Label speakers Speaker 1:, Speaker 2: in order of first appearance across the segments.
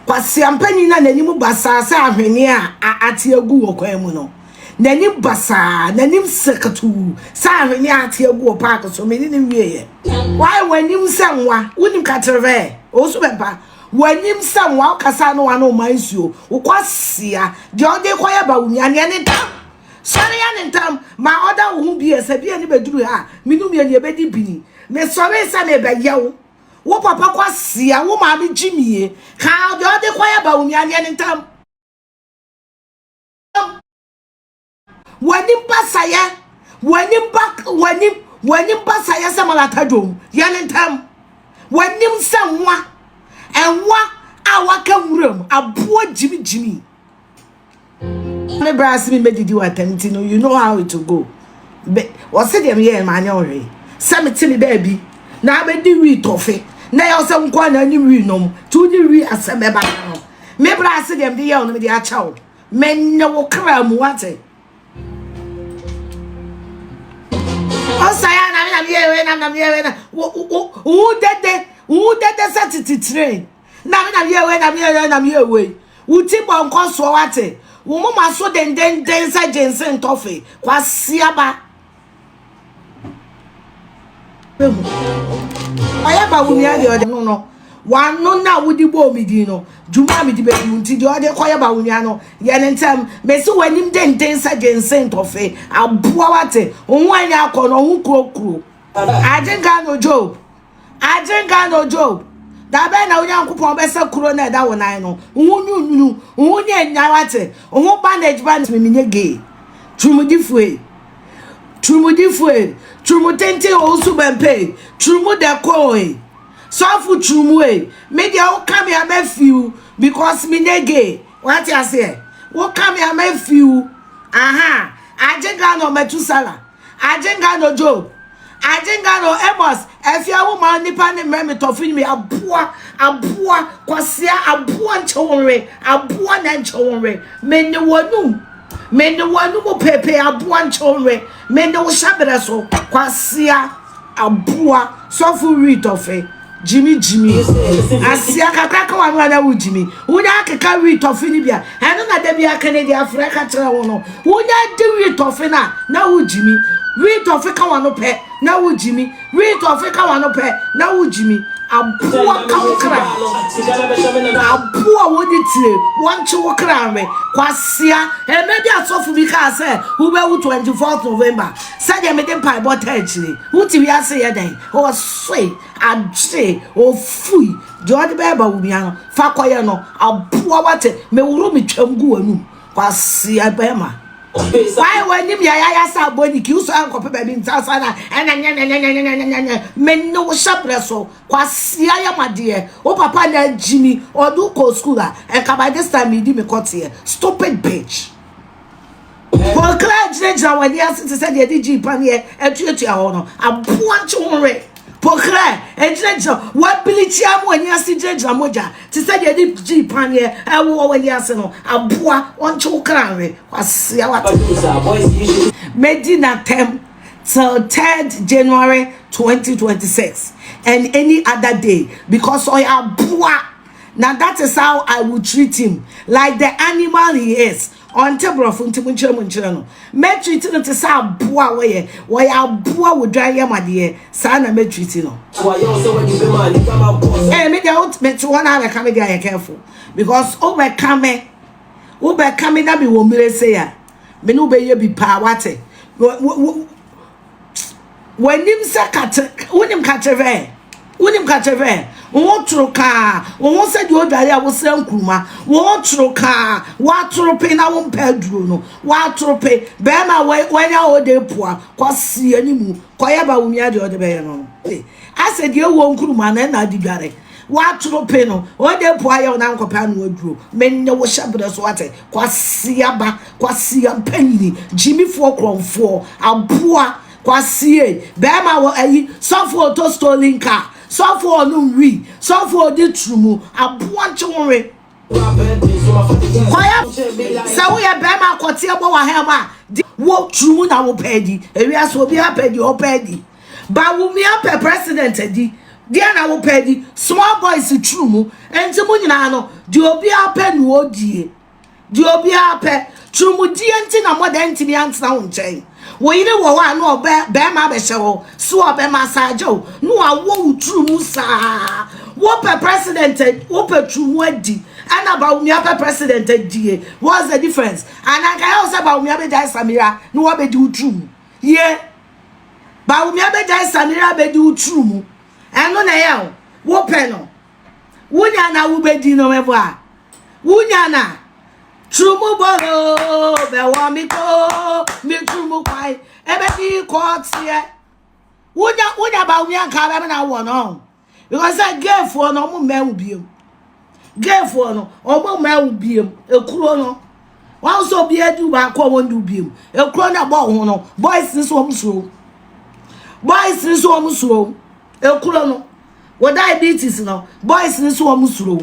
Speaker 1: Kwasia panin na n'anim basaa sɛ ahweneɛ a ate agu wɔ kwan mu no. N'anim basaa, n'anim sakatuu sɛ ahweneɛ a ate agu wɔ paake so. Me ne no wieeɛ. Why w'anim sɛ nwa? Wonim katerevɛɛ? Ɔwɔ su bɛmpa. W'anim sɛ nwa, wokasaa ne w'ano mmaa nsuo. Wo kwasia, deɛ ɔde rekɔyɛ ba wo nua, neɛ ne ntam! Sɔre yɛ ne ntam! Ma ɔda wo ho bie, sɛ bie no bɛduru ha a, me ne wo mmienu yɛbɛdi bini. Mesɔree sɛ merebɛyɛ wo. Wo papa kwasia, wo maame gyimie, kaa deɛ ɔde kɔ yɛ ba wo nuadeɛ no ntam. W'anim basayɛ, w'anim ba, w'anim, w'anim basayɛ sɛ malata dwom, yɛ ne ntam. W'anim sɛ nwa, nwa a waka nwuram, aboa gyimigyimi. me bra se me medidi watam ti no you know how it will go be wɔse deɛ meyɛ ma anyɛ ɔhwee sɛ mete me baabi na abɛdi wi tɔfe na ɛyɛ sɛ nkoa na anim wi nom ti wo ne wi asɛm ɛba no me bra se deɛ mede yɛ wo no mede akyɛ wo mɛnyɛ wo kra mu wate ɔsaya na me na meyɛ wei na me na meyɛ wei na wo dede wo dede sɛ tete train Nyame na meyɛ wei, Nyame yɛ na meyɛ wei. Wo ti bɔ nkɔsoɔ wate. Wo moma so dendenden sɛ gyense ntɔfe. Kwasiaba. Behu. Ɔyɛ ba wo nua deɛ ɔde no no. Wano na wodi bɔɔ me din no. Dwuma a medi bɛdi wo nti deɛ ɔde kɔyɛ ba wo nua no. Yɛ ne ntɛm. Mesi w'anim denden sɛ gyense ntɔfe. Aboa wate. Wo ho anya akɔ no, wo ho kurokuro. Agye Ghana Job. Agyenka no Job, da bɛn na Onyankopɔn bɛsɛ kuro na ɛda wo nan no, wo ho nwunwunu, wo ho nyɛ nya wate, wo ho bandage ba no menyɛ gay. Turumudifue, turumudifue, turumu tenten o nso bɛmpe, turumu dɛkɔe, sɔfo turumu e, me deɛ wo ka me a mɛfiw because menyɛ gay. Wate aseɛ? Wo ka me a mɛfiw. Aha, agyenka no mɛtu sala. Agyenka no Job, Agyenka no Amos, Afia wo ma nipa ne mmerɛ me tɔfo nyimi, aboa, aboa, kwasea, aboa nkyɛ wo nwe, aboa na nkyɛ wo nwe, me ne wanu, me ne wanu mu pepe, aboa nkyɛ wo nwe, me ne wo hyɛ berɛ so, kwasea. aboa sɔfo wheat ɔfɛ gyimi gyimi asia kakra ka wano ana wo gyimi wonya akeka wheat ɔfe no bia ɛno na da bi aka ne de afra ka kyerɛ wo no wonya di wheat ɔfe na na wo gyimi wheat ɔfe ka wano pɛ na wo gyimi wheat ɔfe ka wano pɛ na wo gyimi aboa ka wo kra aboa wɔde tie wɔnkye wo kra nwe kwasia ɛmɛ bi asɔfo bi kaa sɛ wobɛwu 24 November Sɛdeɛ mede mpaebɔ taa akyire. Wote wiase yɛ dɛn? Ɔsoe, agye, ɔfui. Deɛ ɔde bɛɛba wo nua no, fa kɔyɛ no. Aboa wate, meworo metwam gu w'anum. Kwasea bɛɛma. Why w'anim yɛ ayayasa abɔ niki, wosɔ ankɔpɛ baabi ntaasa na ɛna nyɛnyɛnyɛnyɛnyɛnyɛnyɛnyɛ. Me ne wo hyɛ berɛ so. Kwasea yɛ madeɛ. Wo papa na agyimi, ɔde wo kɔɔ school a, nka by this time medi me kɔteɛ. Stupid bitch. Wɔn kra gyinagyina wɔn ani ase te sɛ deɛ ɛde gyi paneɛ atuatua hɔ no, aboa nkye ho were. Po kra gyinagyina wɔabili kyia wɔn ani ase gyinagyina mogya te sɛ deɛ ɛde gyi paneɛ ɛwɔ wɔn ani ase no, aboa ɔnkye wo kra were. Wasea wate. Medi n'atɛm till 3rd January 2026 and any other day because ɔyɛ aboa na that is how I will treat him like the animal he is. Ɔnte borɔfo nti monkyerɛ mu nkyerɛ no. Mɛtriti no te sɛ aboa a wɔyɛ wɔyɛ aboa wɔ dwan yam adeɛ saa na mɛtriti no. Ee eh, me deɛ mete hɔ na abɛka me deɛ ayɛ careful because wobɛka me wobɛka me na mewɔ mmire sei a me ne wobɛyɛ bi paa wate w'anim sɛ katre wonim katrehwɛ wonim katrehwɛ wo ho toro kaa wo ho sɛ deɛ ɔdware a wosra nkuruma wo ho toro kaa woatoro pe na wompɛ aduro no woatoro pe bɛrima a wanya ɔde poa kɔseɛ ne mu kɔyɛ ba wo nua deɛ ɔde bɛyɛ no asɛ deɛ wɔ nkuruma na ɛna ade dware W'atoro pee no, ɔde mpo ayɛ wo na ankɔpɛ ano aduro. Mennye wo hyɛberɛ so ate. Kwasia ba, kwasia mpanyini, gyimifoɔ korɔmfoɔ, aboa, kwasie, bɛɛma wɔ ayi, sɔfoɔ ɔtɔ stolen car, sɔfoɔ ɔnom wii, sɔfoɔ ɔdi turumu, aboa nkye wo nwe. Kwaya sɛ woyɛ bɛrima akɔteɛ bɔ w'aha mu a wo tiri mu na wopɛ adi ewia so obi apɛ di ɔpɛ adi ba wumi apɛ president adi deɛ na wopɛ adi small boys tiri mu nti mu nyinaa no deɛ obi apɛ na odie deɛ obi apɛ tiri mu die nti na mɔdɛ ntumi antena wo nkyɛn. Wo yere wɔ hɔ a na ɔbɛ bɛrima abɛhyɛ hɔ so a ɔbɛma asa agya o na wawɔ wo turu mu saa wopɛ president wopɛ turu mu adi ɛna Bawumia pɛ president adie what's the difference ananka yɛ wo sɛ Bawumia bɛgyae Samira na wabɛdi wo turu mu yie Bawumia bɛgyae Samira bɛdi wo turu mu ɛno na ɛyɛ o wopɛ no Wunya na wubedi no mɛbɔ a. Wunya na turumu bɔlɔ bɛwɔ mi ko mi turumu kwae ebedi kɔɔteɛ. Wunya wunya ba wunya nka bɛm na wɔ no ɔho. Because sɛ geefoɔ no ɔmo mmɛn wo biem. Geefoɔ no ɔmo mmɛn wo biem. Ekuro no wɔn sɛ obiara du baako a wɔn du biem ekuro na ɛbɔ wɔn ho no boys nso wɔn suro boys nso wɔn suro ekuro no wɔ diabetes no boys nso wɔn suro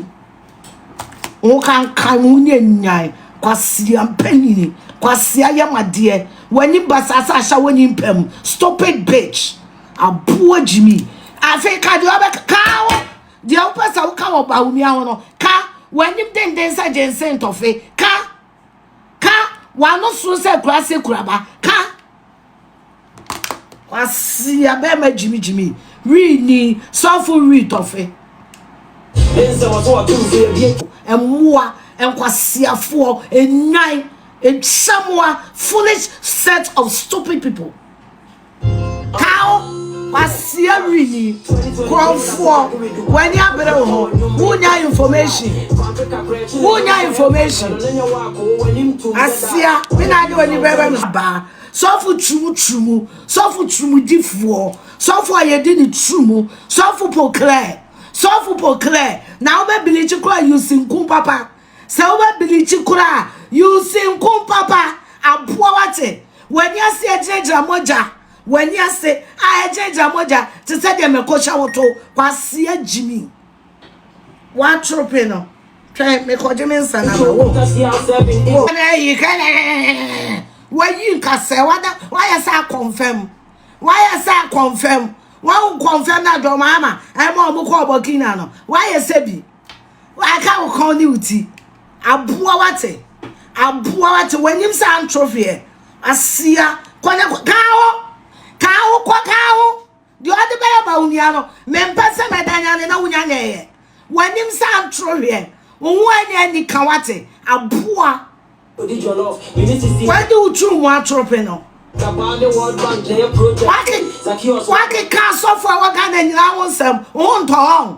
Speaker 1: wɔn kankan wɔn nyɛ nyan kwasia mpanyini kwasia yamadeɛ wɔn ani basaasa ahyɛ wɔn ani mpam stupid bitch aboa gyimi afei kadeɛ ɔbɛka kaa wɔn. Deɛ wopɛ sɛ woka wɔ Bawumia ho no, ka. W'anim denden sɛ gyensen tɔfe, ka. Ka. W'ano soro sɛ kurase kuraba, ka. Wasia bɛrima gyimigyimi, wii ni, sɔfo wii tɔfe. Mmoa, nkwasiafoɔ, nnwan, nkyɛmmoa, foolish set of stupid people. Kaw, kwasia wi yi korɔmfoɔ w'ani abere wo ho wonya information wonya information asia me na ade w'ani bɛbɛ no baa sɔfo turumu turumu sɔfo turumu difoɔ sɔfo a yɛdi ne turumu sɔfo poklɛ sɔfo poklɛ na wobɛbili kye kora yusi nku papa Sɛ wobɛ bilikyi koraa a use nko papa aboa wate wani ase ɛgyinagyina mogya wani ase a ɛgyinagyina mogya te sɛ deɛ mɛko hyɛ wo to kwasia gyimi watrope no twɛ mekɔgye me nsa na ma wo na ɛyi kɛlɛɛ wayi nkasɛ wada wayɛ sɛ akɔnfɛm wayɛ sɛ akɔnfɛm wɔn nkɔnfɛm na dɔm ama ɛma wɔn kɔ ɔbɔkina no wayɛ sɛ bi Waka wo kɔn ne wo ti. Aboa wate. Aboa wate. W'anim sɛ antwofeɛ. Asia. Kɔ ne kɔ. Kaa ho. Kaa ho kɔ kaa ho. Deɛ ɔde bɛyɛ ma wo nua no. Mempɛ sɛ mɛda nyane na wonya na ɛyɛ. W'anim sɛ antwofeɛ. Wo ho ani ani ka wate. Aboa. Wadi wo turu mu atorope no. Wakeka asɔfo a ɛwɔ Ghana nyinaa ho nsɛm. Wo ho ntɔ hɔ.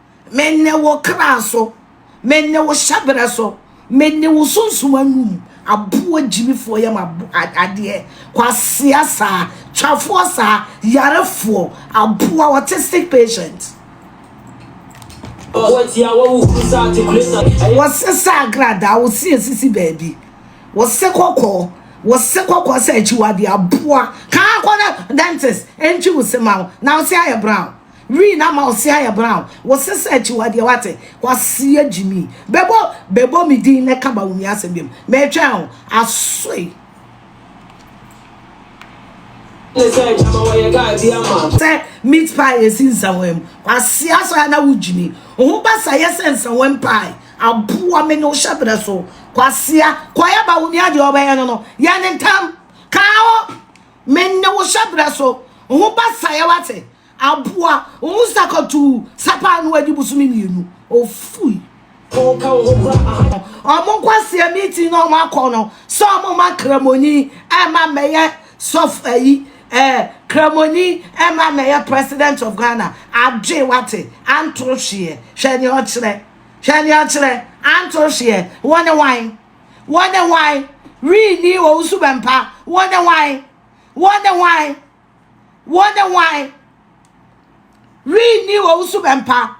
Speaker 1: mene wo kra so mene wo hyɛberɛ so mene wo sunsum anum aboa gyimifoɔ yam adeɛ kwasea saa twafoɔ saa yarefoɔ aboa wɔte sick patient wɔse sɛ agradaa wɔsi asisi baabi wɔse kɔkɔɔ wɔse kɔkɔɔ sɛ akyiwadeɛ aboa kaa kɔ no dentist ɛntwi wo se ma wo na wo se ayɛ brown Green ama wo se ayɛ brown. Wo se sɛ akyiwadeɛ wate. Kwasia Gyimi. Bɛbɔ bɛbɔ me din na ka Bawumia asɛm biom. Meretwɛn wo. Asoe. Sɛ meat pie esi nsawa mu. Kwasia sɔ ya na wo Gyimi. Wo ho ba sa yɛ sɛ nsawa mu pie. Aboa me ne wo hyɛ berɛ so. Kwasia kɔyɛ Bawumia deɛ ɔbɛyɛ no no. Yɛ ne ntam. Ka ho. Me ne wo hyɛberɛ so ho basaeɛ wate aboa wo sakatuu sapaa no adi bosome mmienu ofui. Ɔka wo ho kora aha no ɔmo nkwaseɛ meeting na ɔmo akɔ no sɛ ɔmo ma kramoni ɛma mɛyɛ sɔf ayi ɛɛ kramoni ɛma mɛyɛ president of Ghana adwe wate anto hweɛ hwɛ nea ɔkyerɛ hwɛ nea ɔkyerɛ anto hweɛ wo ne wan. Wɔn ne hwan? Renni wɔn suban pa. Wɔn ne hwan? Wɔn ne hwan? Wɔn ne hwan? Renni wɔn suban pa.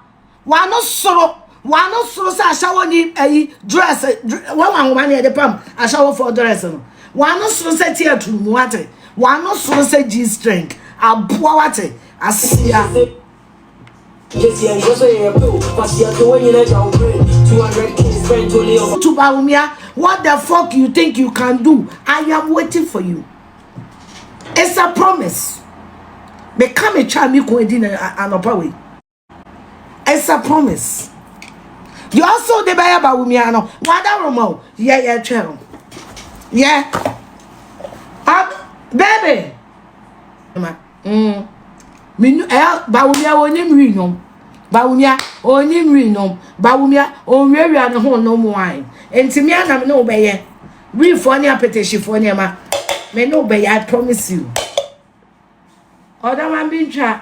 Speaker 1: Wɔn ano soro. Wɔn ano soro sɛ ahyɛwɔ ni ayi dress wɔn ahoma ne yɛde pam ahyɛwɔfoɔ dress no. Wɔn ano soro sɛ ti aturu mu ate. Wɔn ano soro sɛ g-string aboa wate asia. To Bawumia what the fuck you think you can do I am waiting for you it's a promise me ka me twa me kun di na anopa we it's a promise you also de baya Bawumia no wada romo yeah yeah twero yeah ah baby Mm. Menu eh bawumia onim wi nom. Bawumia onim wi nom. Bawumia onwiawia ne ho nom wine. Enti me anam ne wobɛyɛ. Wi fo ne apetition fo ne ma. Me ne wobɛyɛ I promise you. Ɔdama bi ntwa.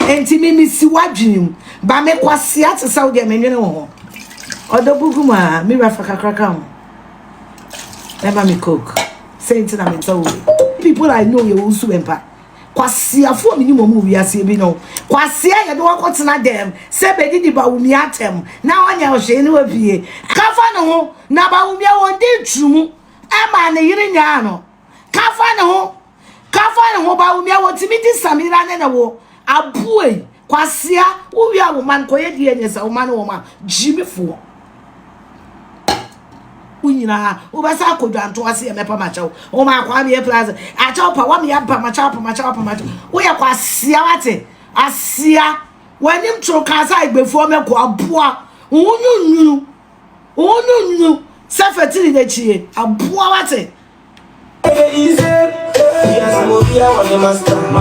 Speaker 1: Enti me misi w'adwene mu. Ba me kwasea te sɛ wo deɛ mennwene wo ho. Ɔdɔ gugu mu aa me wura fa kakra ka ho. Ɛma me coke. Sɛ nti na me ntɔ wo bi. People I know yɛ wo nsu bɛmpa. Kwaseafoɔ menim wɔn wɔ wiaseɛ bi no. Kwasea yɛde wɔkɔ tena dɛm sɛ bɛdidi Bawumia atɛm na ɔnyɛ hwee ne wapue. Ka fa ne ho na Bawumia wɔn dii turumu ɛmaa ne yere nyaa no. Ka fa ne ho Ka fa ne ho ba wo nua wɔtumi di Samira ne ne wo aboe kwasea wo wia wo man kɔyɛ DNA sɛ wo ma ne wɔn a gyimifoɔ wo nyinaa wobɛsa akɔ dwanto ase yɛ mɛpa makyɛw wo ma akɔ ameɛ plaza akyɛw pa wɔn yɛ pa makyɛw pa makyɛw pa makyɛw woyɛ kwasea wate asia w'anim toro kaa sɛ agbefoɔ mɛkɔ aboa wo nyunyunu wo nyunyunu sɛ fɛtiri n'akyie aboa wate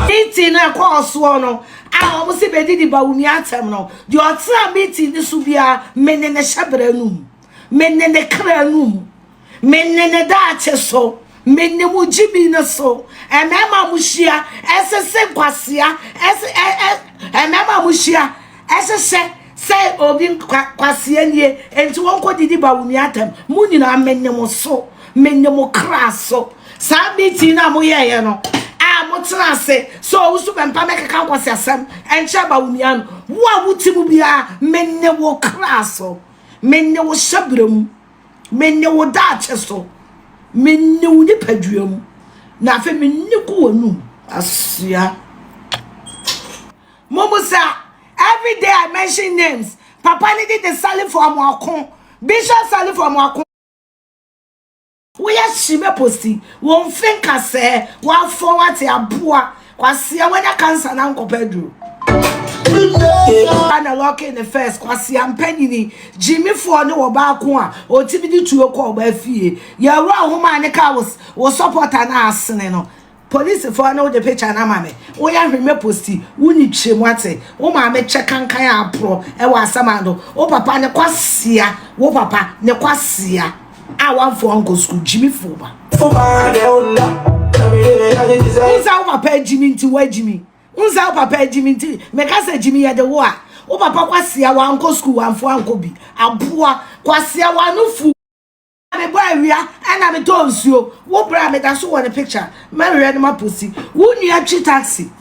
Speaker 1: Meeting no ɛkɔɔ soɔ no a wɔn sɛ bɛdidi Bawumia atɛm no deɛ ɔtena meeting no so biara me ne ne hyɛbrɛ no mu me ne ne kra no mu me ne ne daakye so me ne mo gyibi no so mmarima mo hyia ɛsese nkwasea ɛse ɛ ɛ mmarima mo hyia ɛsesɛ Sɛ obi kwa, kwasea nie, enti wɔnkɔ didi ba wo nua atam. Mo nyinaa menye mo so, menye mo kra so. Saa meeting no a moyɛeɛ no, a motena ase sɛ ɔwo so bɛmpa mɛkeka nkwaseasɛm ɛnkyɛ aba wo nua no, wo a wote mu biara, menye wo kra so, menye wo hyɛberɛ mu, menye wo daakye so, menye wo nipadua mu, na afei menye gu w'anum. Asua. Momusa, every day I mention names, papa ne de de Salifo Amoako, Bishop Salifo Amoako. Woyɛ hye mɛ posti wo mfe nkasɛɛ wafɔ wate aboa kwasea wanya cancer na nkɔpɛ aduro. Ghana locking ne first kwasea mpanyini gyimifoɔ ne wɔ baako a ɔtumi de tuo kɔ ɔbaa fie yɛwura homa ne ka wo support anaa asene no Polisifɔɔ ne wo gye picture no ama me wo yɛ hwee mɛ posti wo ni twa mu ate wo maame kyɛ kankan a aporɔ ɛwɔ asɛm ando wo papa ne kwasia wo papa ne kwasia a wanfoɔ ankɔ sukuu gyimi foɔ ba wonsa wo papa agyimi nti woagyimi wonsa wo papa agyimi nti meka sɛ gyimi yɛde wo a wo papa kwasia wankɔ sukuu wanfoɔ ankɔ bi aboa kwasia wanofu Me bɔ awia ɛna me tɔ nsuo wo bra me da so wɔ ne picture mɛ wɛ no ma posi wo nua twi taxi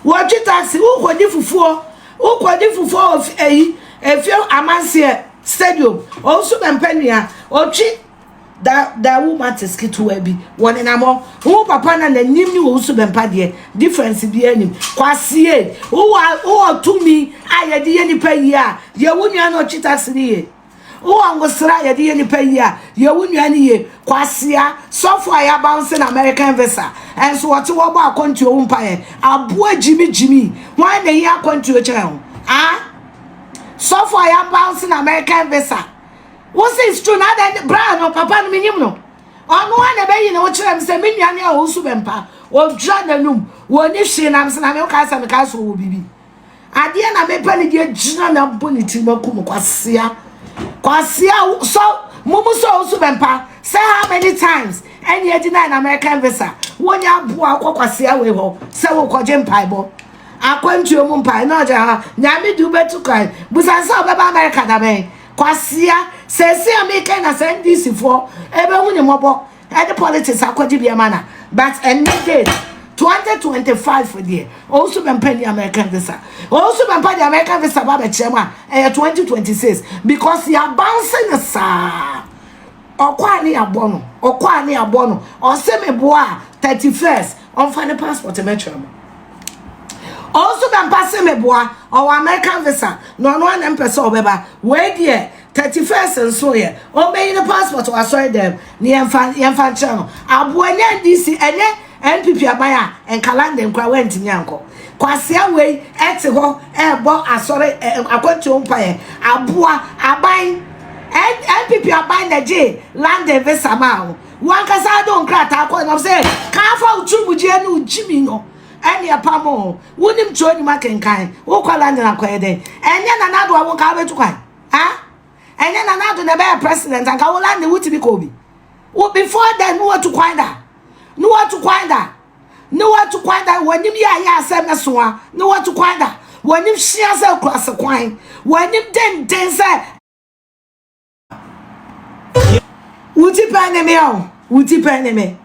Speaker 1: wɔ twi taxi wo kɔ di fufuo wo kɔ di fufuo wɔ eyi efie amanseɛ stadium ɔn so bɛ mpɛ nua ɔtwi da da wo ma te skitiwa bi wɔ ne namɔ wo papa na na nim ni wɔ so bɛ mpa deɛ difference bi anim kwasie wo wɔ tumi a yɛde yɛ nipa yie a yɛ wo nua na ɔtwi taxi ni yɛ. Mo a mo sra a yɛde yɛ nipa yie a, yɛ wo nua no yie. Kwasea, sɔfo a yɛaba wo se na American visa, ɛnso wɔte hɔ bɔ akwantuo ho mpaeɛ. Aboa gyimi gyimi, hwan na ɛhia akwantuo kyɛn wo? Ah? Sɔfo a yɛaba wo se na American visa, wo se it's true na adɛn de bra no, papa no menyim no. Ɔno a na ɛbɛyi ne ho kyerɛ me sɛ me nua ne a ɔwusu bɛmpa, ɔdwira n'anum, wɔni hwee na me se na me wo kae sɛ me kae so wɔ biribi. adeɛ na mepɛ ne deɛ gyina na abɔ ne tirim aku mu kwasea kwasea sɔ mo mu sɔ wosu bɛmpa sɛ how many times ɛne adi na american visa wonya aboa akɔ kwasea wei hɔ sɛ wokɔgye mpaebɔ akwantuo mu mpae na ɔgye ha nyame de wobɛtu kwan busan sɛ wobɛba america da bɛn kwasea sɛsi a mekɛ na sɛ ndisifoɔ ɛbɛhu ne mmɔbɔ Ɛde politics akɔgye bi ama na but ɛnɛ date twenty twenty five deɛ ɔwusu bɛmpa ni American visa ɔwusu bɛmpa de American visa ba bɛkyerɛ mu a ɛyɛ twenty twenty six because yabanse ne saa ɔkɔ a ne yabɔ no ɔkɔ a ne yabɔ no ɔse me boa thirty first ɔnfa ne passport mɛkyerɛ mu ɔwusu bɛmpa se me boa ɔwɔ American visa na ɔno anam pɛ sɛ ɔbɛba wei deɛ Thirty first nso yɛ ɔmbɛyi ne passport wɔ asɔre dɛm ne yɛn fa yɛn fa nkyerɛ no aboa nyɛ NDC ɛnyɛ NPP aban a nka London koraa wɛntumi ankɔ kwasea wei ɛte hɔ ɛɛbɔ asɔre ɛɛ akwantuo mpaeɛ aboa aban NPP aban na gye London visa maa wo wankasa de nkrataa kɔ nam sɛ kaa fa wo tiri mu gyeɛ ne wo gyimi no ɛne ɛpa mo wonim twerɛ nim akenkan wokɔ London akɔyɛ dɛn ɛnyɛ nanado a wo nka wobɛtu kwan ha ɛnyɛ na n'ado na ɛbɛyɛ president anka wo lande wotumi kɔ bi wo before then ne watu kwan da ne watu kwan da ne watu kwan da w'anim yɛ ayɛ asɛm ne soa ne watu kwan da w'anim hyia sɛ kura se kwan w'anim denden sɛ wuti pɛ ne me o wuti pɛ ne me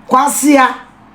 Speaker 1: kwasia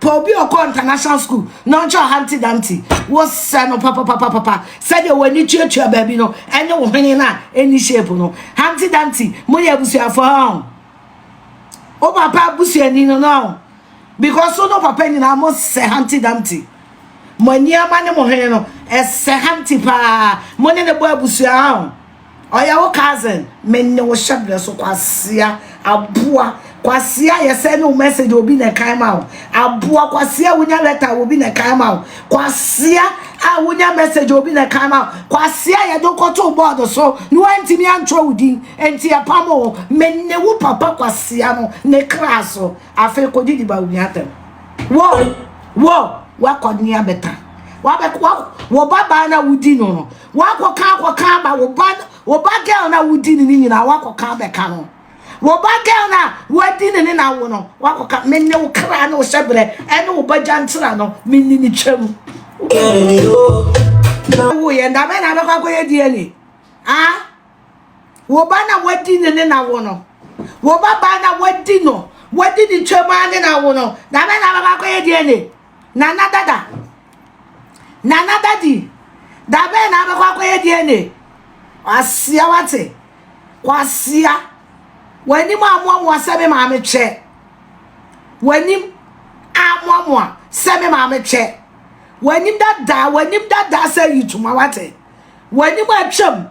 Speaker 1: Pɛ obi a ɔkɔɔ international school na ɔnkyerɛ Humpty Dumpty. Wosɛ no papapapapa. Sɛdeɛ w'ani tuatua baabi no ne wo hwene no a ɛnni shape no. Humpty Dumpty, moyɛ abusuafoɔ ɔn. Wo papa abusuani no no ɔn. Because wo ne wo papa nyinaa mosɛ Humpty Dumpty. Mo ani ama ne mo hwene no, ɛsɛ Humpty paa. Mo ne ne bɔ abusua ɔn. Ɔyɛ wo cousin? Me ne wo hyɛ berɛ so kwasea aboa kwasea yɛ sɛ ne wo message obi na ɛkan ma wo aboa kwasea wonya letter obi na ɛkan ma wo kwasea a wonya message obi na ɛkan ma wo kwasea yɛde wokɔto board so ne woantumi antwerɛ wo din enti ɛpam o me ne wo papa kwasea no ne kra so afei kɔdi di ba wo nua atɛm wɔ wɔ wakɔnea bɛta wabɛkɔ wɔ babaa na wodi no no Woakɔka akɔka aba wo ba wo ba girl no a wodi ne ne nyinaa woakɔka abɛka no wo ba girl no a woadi ne ne na awo no woakɔka me ne wo kra ne wo hyɛberɛ ɛne wo ba gyantra no me ne ne twam woyɛ nda bɛn na abɛkɔ akɔyɛ DNA a wo ba na wadi ne ne na awo no wo ba ba na wadi no wadi ne twam a ne na awo no da bɛn na abɛkɔ akɔyɛ DNA Nana dada. Nana dadi. Da bɛn na abɛkɔ akɔyɛ DNA? Kwasia wate. Kwasia. W'anim amoamoa sɛ me maame twɛ. W'anim amoamoa sɛ me maame twɛ. W'anim dada, w'anim dada sɛ yituma wate. W'anim atwam.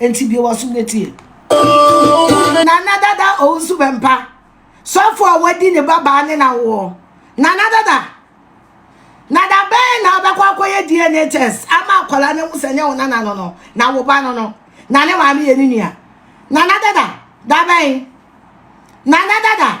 Speaker 1: Enti bie w'asom na tie. Nana Dada Owusu Bɛmpa, sɔfo a wadi ne babaa ne n'awoɔ. Nana Dada, na da bɛn na wobɛkɔ akɔyɛ DNA test ama akwadaa no ahu sɛ nyɛ wo nana no no, na wo ba no no, na ne maame yɛ ne nua. Nana Dada, da bɛn? Nana Dada.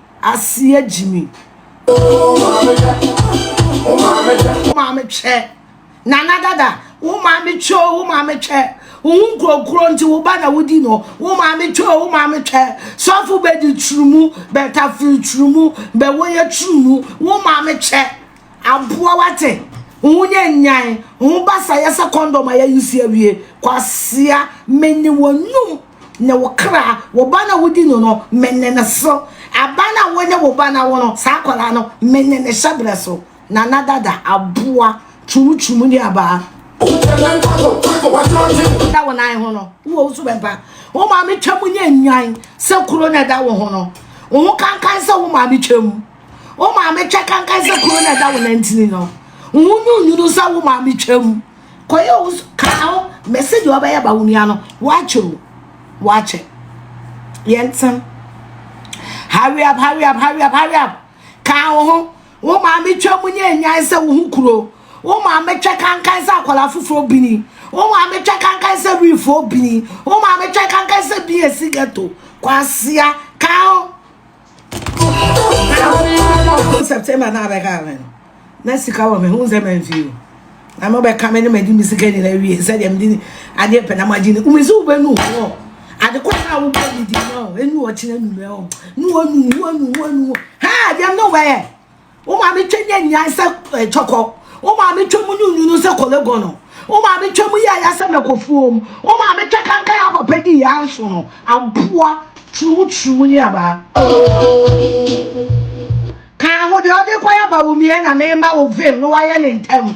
Speaker 1: Asia Jimmy. Wo maame twɛ. Wo maame twɛ. Wo maame twɛ. Nana dada. Wo maame twɛ. Wo maame twɛ. Wo ho nkurokuro nti wo ba na wodi no. Wo maame twɛ. Wo maame twɛ. Sɔfo bɛdi turumu. Bɛtafiri turumu. Bɛwɔ yɛ turumu. Wo maame twɛ. Aboa wo ate wo ho nyɛ nyan wo ho basayɛ sɛ kɔndɔm a yɛyi si awie. Kwasea, mene w'anum ne wo kra, wo ba na wodi no no, mene ne so. Aba na wo ne wo ba na wo no, saa akwadaa no, mene ne hyɛbrɛ so. Nana Dada, aboa, kyumkyum ne abaa. Da wo nan ho no, wowɔ wo subɛmpa. Wo maame twam nyɛ nyan sɛ kuro na ɛda wo ho no. Wo ho kankan sɛ wo maame twam. wo maame twa kankan sɛ kuro na ɛda wo nantini no wo nyunyunu sɛ wo maame twam kɔyɛ wo kaa ho mɛsɛ deɛ ɔbɛyɛ ba wo nua no woakyɛ o woakyɛ yɛntem hurry up hurry up hurry up hurry up kaa wo ho wo maame twam nyɛ nyan sɛ wo ho kuro wo maame twa kankan sɛ akwadaa foforɔ bini wo maame twa kankan sɛ wifoɔ bini wo maame twa kankan sɛ bi esi ghetto kwasia kan Awo September na abɛka me no na sika wɔ me ho nsɛ mamfie o na mobɛka me ne madi me sika nyina wie sɛdeɛ mede adeɛ pɛ na magye ne wome sɛ wobɛnu hɔ adekɔ sɛ wobɔ ne di no ɛnu ɔkyena nu no ne wanu wanu wanu ha deɛm ne wobɛyɛ Wo maame twam yɛ nyan sɛ eh, kyɔkɔ. Wo maame twam nyunyunu sɛ kɔlɛgɔnɔ. Wo maame twam yɛ aya sɛ mɛkɔfuom. Wo maame twɛ kankan a papa di yɛ anso no. Aboa, turumu turumu ne abaa. Ka ho deɛ ɔde kɔyɛ bawomiɛ na mema wo vim na wayɛ ne ntɛm.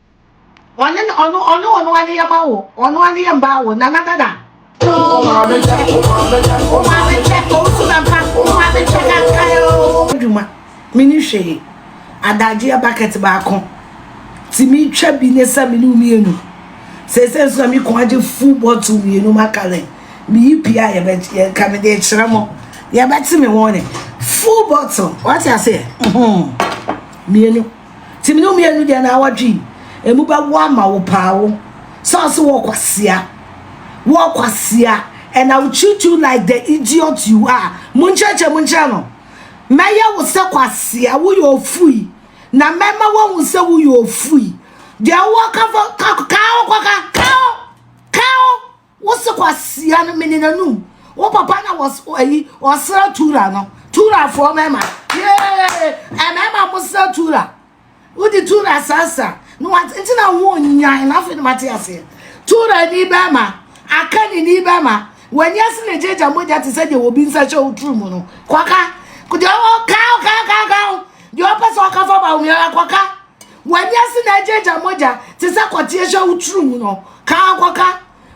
Speaker 1: Ɔne no ɔno ɔne ɔno ane yɛ ma wo ɔno ane yɛ mba wo nana dada. Wo maame kyɛ wo maame kyɛ wo maame kyɛ owusu na mpa wo maame kyɛ na nka yɛ oo. Adwuma me ni hwee adagyeɛ bucket baako ti me twa bi ne sɛ me ne wo mienu sese nso na me kɔn agye full bottle mienu makalen me yi pii a yɛbɛ yɛ ka me de kyerɛ mo yɛbɛte me wɔn ne full bottle wate aseɛ mienu. Ntsi me no mmienu deɛ na awɔtwe emu bɛwo ama wo paa wo sɛ ɔse wɔ kwasia wɔ kwasia and I will treat you like the idiot you are monkyerɛkyerɛ mu nkyerɛ no mɛyɛ wo sɛ kwasia woyɛ ofui na mɛma wahu sɛ woyɛ ofui deɛ wowɔ ka fɔ ka ka wo kɔka ka wo ka wo Wo se kwasia no mene n'anum. Wo papa na was ayi ɔsra tura no. Tura fo mɛma. Yee! Ɛmɛma mo sra tura. Wodi tura sasa. No wat nti na wo nyan na fe no mate ase. Tura ni bɛma. Aka ni ni bɛma. Wani ase na jeja mogya te sɛ de obi nsa hyɛ wo turu mu no. Kwaka. Kudi ɔwɔ ka ka ka ka. Di ɔpɛ sɛ ɔka fa ba wo miara kwaka. W'ani ase na agyaagya mogya te sɛ kɔteɛ hyɛ wo tiri mu no, ka ara kɔka.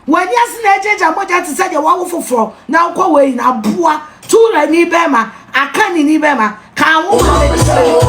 Speaker 1: W'ani ase na agyaagya mogya te sɛ deɛ wawo foforɔ na wokɔ w'ayi no, aboa, Tuurani bɛrima, Akanini bɛrima, ka ahoma a ɛdi kan no ho.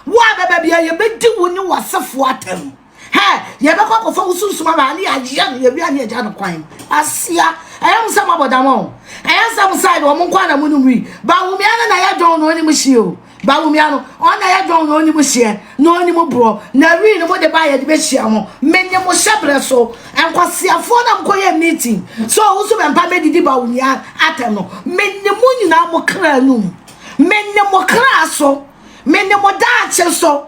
Speaker 1: Wo a bɛba biara yɛbɛdi wo ne w'asefoɔ atɛm. Hɛ! Yɛbɛkɔ akɔfa wo sunsum aba ha ne yɛayɛ no yɛwia ne yɛgya no kwan. Asia, ɛyɛ mo sɛ moabɔ dam o. Ɛyɛ sɛ mo side wɔn nko na monim wi. Bawumia no na ɛyɛ dwon na ɔnim hyeɛ o. Bawumia no, ɔno na ɛyɛ dwon na ɔnim hyeɛ na ɔnim borɔ. Na wi no mode baa yɛde bɛhyia mo. Mene mo hyɛ berɛ so. Nkwaseafoɔ na mokɔyɛ meeting sɛ ɔwo so bɛmpa mɛdidi Bawumia atɛm no. Mene mo nyinaa mo kra anum. Mene mo kra so. Mene mo daakye so.